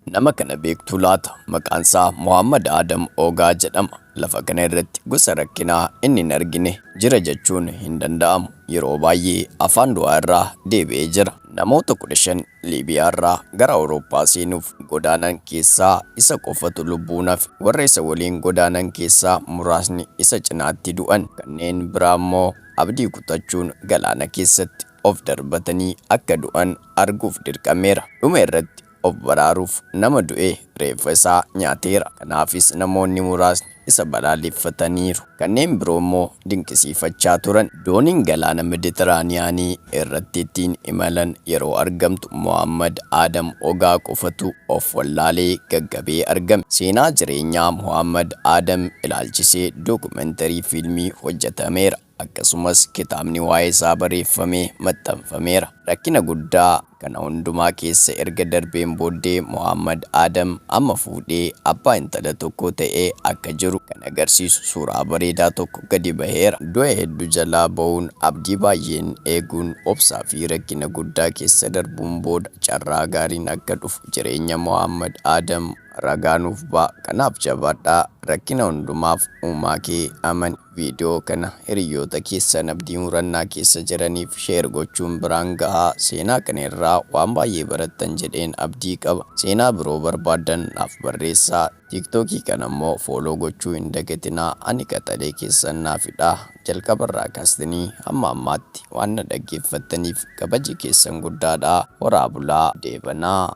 Nama kana beektuu laata? Maqaansaa Mohaammad Aadam Oogaa jedhama. Lafa kana irratti gosa rakkinaa inni hin argine jira jechuun hin danda'amu. Yeroo baay'ee afaan du'aa irraa deebi'ee jira. Namoota 15 Liibiyaa irraa gara Awurooppaa seenuuf godaanan keessaa isa qofatu lubbuun hafe. Warra isa waliin godaanan keessaa muraasni isa cinaatti du'an. Kanneen biraa immoo abdii kutachuun galaana keessatti of darbatanii akka du'an arguuf dirqameera. Dhuma irratti Of baraaruuf nama du'e reeffa isaa nyaateera. Kanaafis namoonni muraasni isa balaaleffataniiru. Kanneen biroo immoo dinqisiifachaa turan. Dooniin galaana Mediteraaniyaanii irratti ittiin imalan yeroo argamtu Mohaammad Aadam Ogaa qofatu of wallaalee gaggabee argame. Seenaa jireenyaa Mohaammad Aadam ilaalchisee dookumentarii fiilmii hojjetameera. Akkasumas kitaabni waa'ee isaa bareeffame maxxanfameera. Rakkina guddaa kana hundumaa keessa erga darbeen booddee Mohaammad Aadam amma fuudhee abbaa intala tokkoo ta'ee akka jiru kan agarsiisu suuraa bareedaa tokko gadi baheera. Du'a hedduu jalaa ba'uun abdii baay'een eeguun obsaa fi rakkina guddaa keessa darbuun booda carraa gaariin akka dhufu jireenya Mohaammad Aadam ragaa nuuf ba'a. Kanaaf jabaadhaa rakkina hundumaaf uumaa kee amani. Viidiyoo kana hiriyyoota keessan abdii murannaa keessa jiraniif share gochuun biraan gahaa. Seenaa kana irraa waan baay'ee barattan jedheen abdii qaba. Seenaa biroo barbaaddan naaf barreessaa. Tiktokii kana immoo follow gochuu hin dagatinaa. Ani qaxalee keessan naaf hidhaa. Jalqaba irraa kaastnii hamma ammaatti waan na dhaggeeffattaniif kabaji keessan guddaadha. Horaa bulaa. Deebanaa.